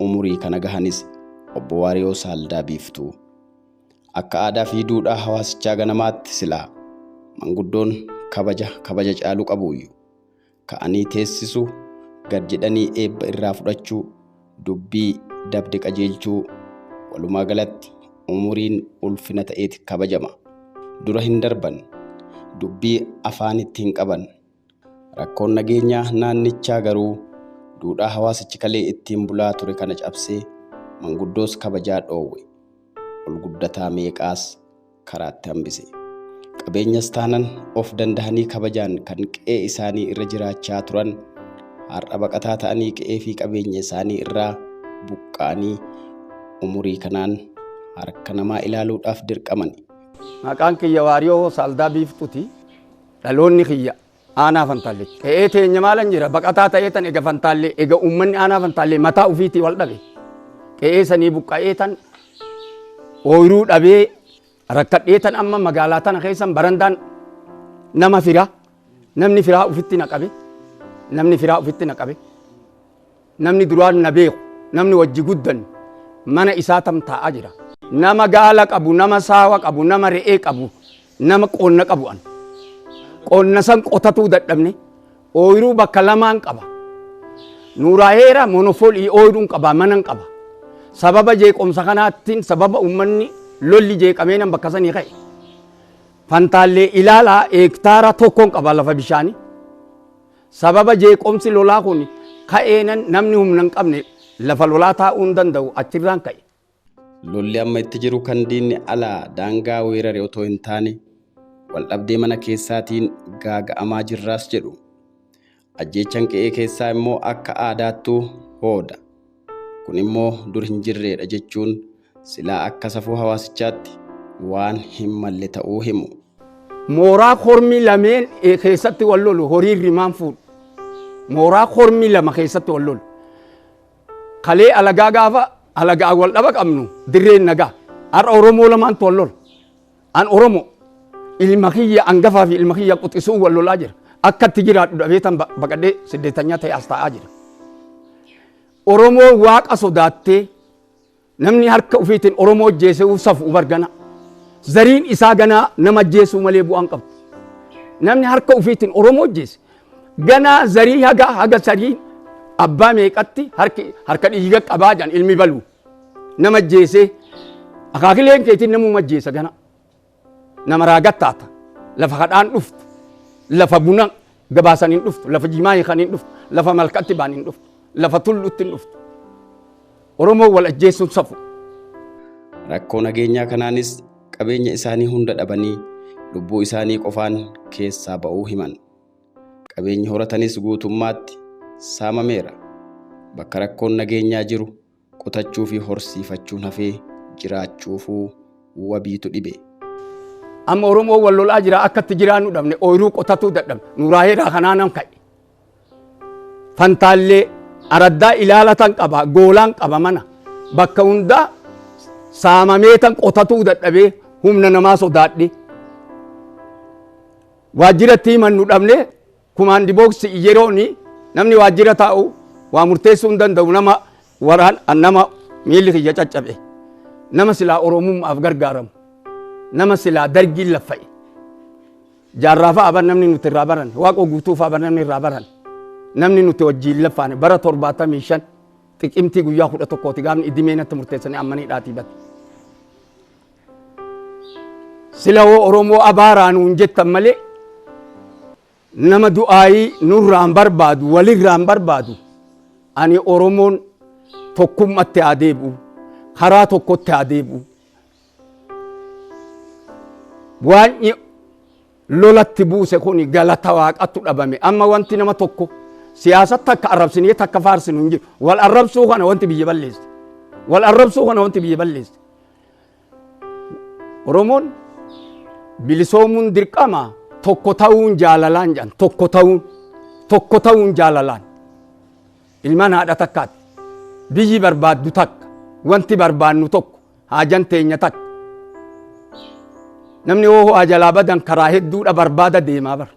umurii kana gahanis Obbo Waariyoo Saaldaa Biiftuu. Akka aadaa fi duudhaa hawaasichaa ganamaatti silaa manguddoon kabaja kabaja caalu qabuuyyu. Ka'anii teessisuu, gad jedhanii eebba irraa fudhachuu, dubbii dabde qajeelchuu walumaa galatti umuriin ulfina ta'eeti kabajama. Dura hin darban. Dubbii afaanitti hin qaban. Rakkoon nageenyaa naannichaa garuu duudhaa hawaasichi kalee ittiin bulaa ture kana cabsee manguddoos kabajaa dhoowwe. Ol guddataa meeqaas karaatti hambise. Qabeenyas taanan of dandahanii kabajaan kan qe'ee isaanii irra jiraachaa turan har'a baqataa ta'anii qe'ee fi qabeenya isaanii irraa buqqa'anii umurii kanaan harka namaa ilaaluudhaaf dirqamani. Maqaan kiyya Waariyoo Saaldaa Biiftuti. Dhaloonni kiyya aanaa Fantaalleeti. Qe'ee teenya maalan jira baqataa ta'ee tan ega Fantaallee ega uummanni aanaa Fantaallee mataa ofiitii wal dhabe. Qe'ee sanii buqqa'ee tan ooyiruu dhabee rakkadhee tan amma magaalaa tana keessan barandaan nama firaa namni firaa ofitti na qabe namni firaa ofitti na qabe. Namni duraan na beeku, namni wajji guddanne mana isaa tamtaa'aa jira. Nama gaala qabu, nama saawa qabu, nama re'ee qabu, nama qonna qabu an. Qonna san qotatuu dadhabne ooyruu bakka lamaan qaba. Nuuraa heera monofolii ooyruun qaba, manan qaba. Sababa jeeqomsa kanaattiin sababa uummanni lolli jeeqamee nan bakka sanii ka'e. Fantaallee ilaalaa heektaara tokkoon qaba lafa bishaanii. Sababa jeeqomsi lolaa kun ka'eenan namni humna hin qabne lafa lolaa taa'uu hin danda'u achirraan ka'e. Lolli amma itti jiru kan diinni alaa daangaa weerare otoo hin taane waldhabdee mana keessaatiin gaaga'amaa jirraas jedhu. Ajjeechan qe'ee keessaa immoo akka aadaattuu hooda. Kun immoo dur hin jirreedha jechuun silaa akka safuu hawaasichaatti waan hin malle ta'uu himu. Mooraa kormi lameen keessatti wal lolu horiin rimaan fuudhu. Mooraa kormi lama keessatti wal lolu. Kalee alagaa gaafa alagaan wal dhaba qabnu dirreen nagaa. Har'a Oromoo lamaantu wal lola. An Oromo ilma kiyya angafaa fi ilma kiyya quxisuun wal lolaa jira. Akka itti jiraadhu dhabeetan ba- baqadhee siddeetanyaa ta'e as taa'aa jira. Oromoo waaqa sodaattee namni harka ufiitiin Oromoo ajjeesuu safu bargana. Zariin isaa ganaa nama ajjeesuu malee bu'aan qabdu. Namni harka ufiitiin Oromoo ajjeese ganaa zarii haga haga zarii abbaa meeqatti harki harka dhiiga qabaa jedhan ilmi baluu. nama ajjeesee akaakileen keetiin namuma ajjeesa gana nama raagattaata lafa kadhaan dhuftu lafa buna gabaasan hin dhuftu lafa jimaa hiikan hin dhuftu lafa malkatti baan hin dhuftu lafa tullutti hin dhuftu oromoo wal ajjeesuun safu Rakkoo nageenyaa kanaanis qabeenya isaanii hunda dhabanii lubbuu isaanii qofaan keessaa ba'uu himan. Qabeenyi horatanis guutummaatti saamameera. Bakka rakkoon nageenyaa jiru qotachuu fi horsiifachuun hafee jiraachuufuu wabiitu dhibe. Amma Oromoon wal lolaa jira akka itti jiraannu dhabne ooyiruu qotatuu dadhabne nuraaheeraa kanaa nan ka'e. Fantaallee araddaa ilaalatan qaba goolaan qaba mana bakka hundaa saamameetan qotatuu dadhabee humna namaa sodaadhe. Waajjiratti himannu dhabne kumaandi booksi yeroon namni waajjira taa'u waa murteessuu hin danda'u nama waraan an nama miilli kiyya caccabe nama silaa oromummaaf gargaaramu nama silaa dargiin laffa'e jaarraa fa'a bar namni nuti irraa baran waaqoo guutuu fa'a bar namni irraa baran namni nuti wajjiin laffaane bara torbaatamii shan xiqimtii guyyaa kudha tokkooti gaafni idimee natti murteessanii ammanii dhaatii bate. Sila hoo Oromoo abaaraa nuun jettan malee nama du'aayii nurraan barbaadu walirraan barbaadu ani Oromoon tokkummatti haa deebi'u karaa tokkotti haa deebi'u waanyi lolatti buuse kun galata waaqattu dhabame amma wanti nama tokko siyaasatti takka arrabsinee takka faarsinu hin jiru wal arrabsuu kana wanti biyya balleessi wal arrabsuu kana wanti biyya balleessi Oromoon bilisoomuun dirqama tokko ta'uun jaalalaan jedhan tokko ta'uun tokko ta'uun jaalalaan ilmaan haadha takkaati biyyi barbaaddu takka wanti barbaannu tokko haajan teenya takka namni hoo ho'aa jalaa badan karaa hedduudha barbaada deemaa bara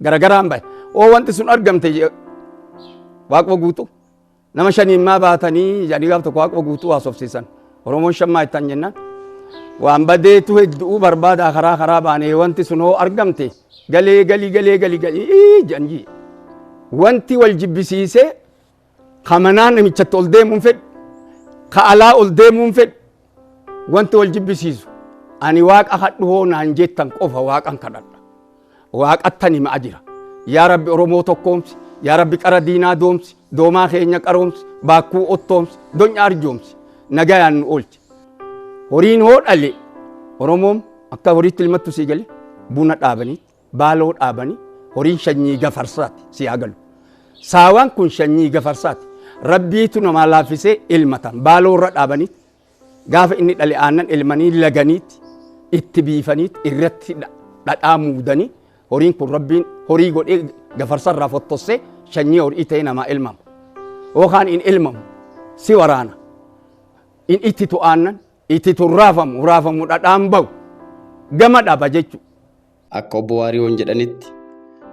garagaraan bahe hoo wanti sun argamte je- waaqwa guutuu Nama shaniin maa baatanii jedhanii gaaf tokko waaquma guutuu haasofsiisan. Oromoon shan maa ittaan jennaan. Waan badeetu heddu'uu barbaadaa karaa karaa baanee wanti sun hoo argamte galee galii galee galii galii jedhan jii. Wanti wal jibbisiisee ka manaa namichatti ol deemuun fedhu ka alaa ol deemuun fedhu Wanti wal jibbisiisu ani waaqa kadhu hoo naan jettan qofa waaqan kadhadha. Waaqattan himaa jira. Yaa Rabbi Oromoo tokkoomsi, yaa Rabbi qara diinaa doomsi, doomaa keenya qaroomsi, baakkuu ottoomsi, donya arjoomsi, nagayaan nu oolchi. Horiin hoo dhale Oromoom akka horiitti ilmattu sii gale buna dhaabaniitti. Baaloo dhaabani horiin shanyii gafarsaati si haa galu. Saawaan kun shanyii gafarsaati. Rabbiitu namaa laaffisee ilmatan baaloo irra dhaabanii gaafa inni dhale aannan ilmanii laganiitti itti biifaniitti irratti dha- dhadhaa muudanii horiin kun rabbiin horii godhee gafarsa irraa fottossee shanyii horii ta'ee namaa ilmamu. Yookaan hin ilmamu si waraana. In itti tu'aannan Ititu hin raafamu, raafamu dhadhaan bahu. Gama dhaba jechu. Akka Obbo Waariyoon jedhanitti,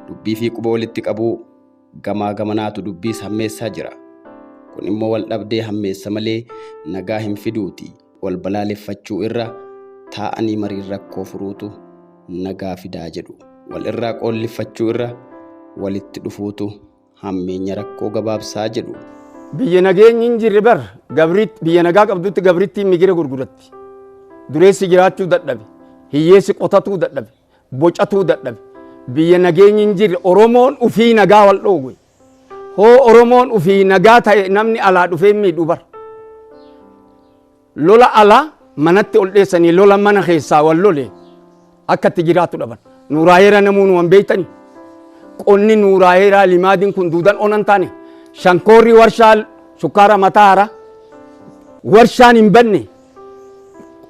dubbii fi quba walitti qabuu gamaa gamanaatu dubbiis hammeessaa jira. Kun immoo waldhabdee hammeessa malee nagaa hin fiduuti. Wal balaaleffachuu irra taa'anii mariin rakkoo furuutu nagaa fidaa jedhu. Wal irraa qoolliffachuu irra walitti dhufuutu hammeenya rakkoo gabaabsaa jedhu. Biyya nageenyi hin jirre bar gabriitti biyya nagaa qabdutti gabrittiin migira gurguratti. Dureessi jiraachuu dadhabe. Hiyyeessi qotatuu dadhabe. Bocatuu dadhabe. Biyya nageenyi hin jirre Oromoon ufii nagaa wal dhooge. Hoo Oromoon ufii nagaa ta'e namni alaa dhufee miidhu bar. Lola ala manatti ol dheessanii lola mana keessaa wal lole akka itti jiraatu dhaban. Nuuraayeera namuu nuwan beektani. Qonni nuuraayeeraa limaadiin kun duudan onan taane shankoorri warshaa sukkaara mataa haaraa warshaan hin banne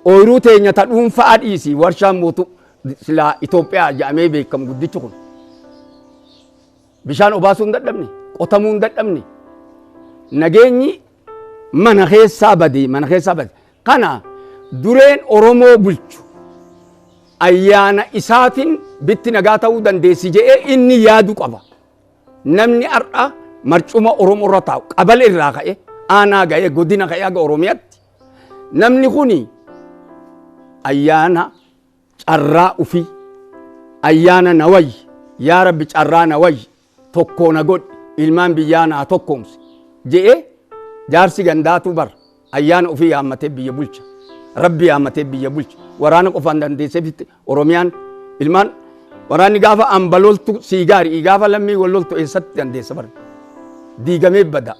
ooyiruu teenya ta dhuunfaa dhiisi warshaan mootu silaa Itoophiyaa jedhamee beekamu guddichi kun. Bishaan obaasuu hin dadhabne, qotamuu hin dadhabne. Nageenyi mana keessaa bade, mana keessaa bade. Kana dureen Oromoo bulchu ayyaana isaatiin bitti nagaa ta'uu dandeessi jedhee inni yaadu qaba. Namni har'a marcuma Oromoo irra taa'u qabal irraa ka'e aanaa ga'e godina ka'e haga Oromiyaatti namni kuni ayyaana carraa ufii ayyaana na wayyi yaa rabbi carraa na wayyi tokkoo na godhi ilmaan biyyaa naa tokkoomsi je'ee jaarsi gandaatuu bar ayyaana ufii yaammatee biyya bulcha rabbi yaammatee biyya bulcha waraana qofaan dandeesseefitti oromiyaan ilmaan waraanni gaafa amba loltu sii gaari gaafa lammii wal loltu eessatti dandeessa bar diigamee bada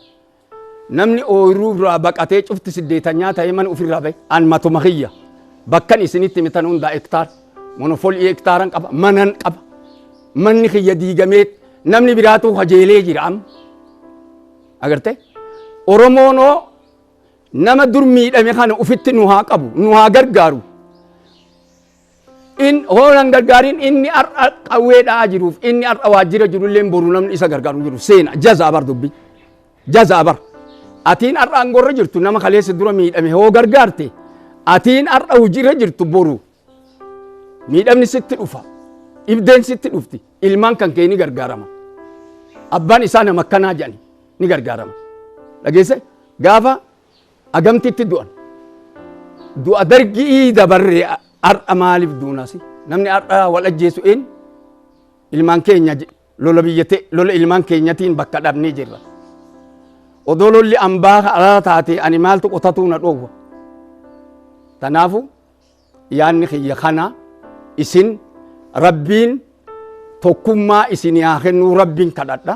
Namni ooyruu duraa baqatee cufti siddeetanyaa ta'ee mana ufirraa bahe an matuma kiyya bakkan isinitti hime tan hundaa ektaar monofolii ektaaran qaba manan qaba manni kiyya diigamee namni biraatuu kajeelee jira amma agarte oromoonoo nama dur miidhame kana ufitti nu haa qabu nu haa gargaaru In hoolan gargaariin inni har'a qawwee dha'aa jiruuf inni har'a waajjira jirullee boru namni isa gargaaru jiru seena jazaa bar dubbi jazaa bar atiin har'a aangorra jirtu nama kaleessa dura miidhame hoo gargaarte atiin har'a hojiirra jirtu boru miidhamni sitti dhufa dhibdeen sitti dhufti ilmaan kan kee ni gargaarama abbaan isaa nama akkanaa jedhani ni gargaarama dhageesse gaafa Agamtitti du'an? Du'a dargi'ii dabarre har'a maaliif duunasi? Namni har'a wal ajjeesu eenyu? Ilmaan keenya lola biyya ta'e lola ilmaan keenyatiin bakka dhabnee jirra. Odoo lolli ambaa alaa taate ani maaltu qotatuu na dhoowwa? Tanaafu yaanni kiyya kana isin rabbiin tokkummaa isin haa kennuu rabbiin kadhadha.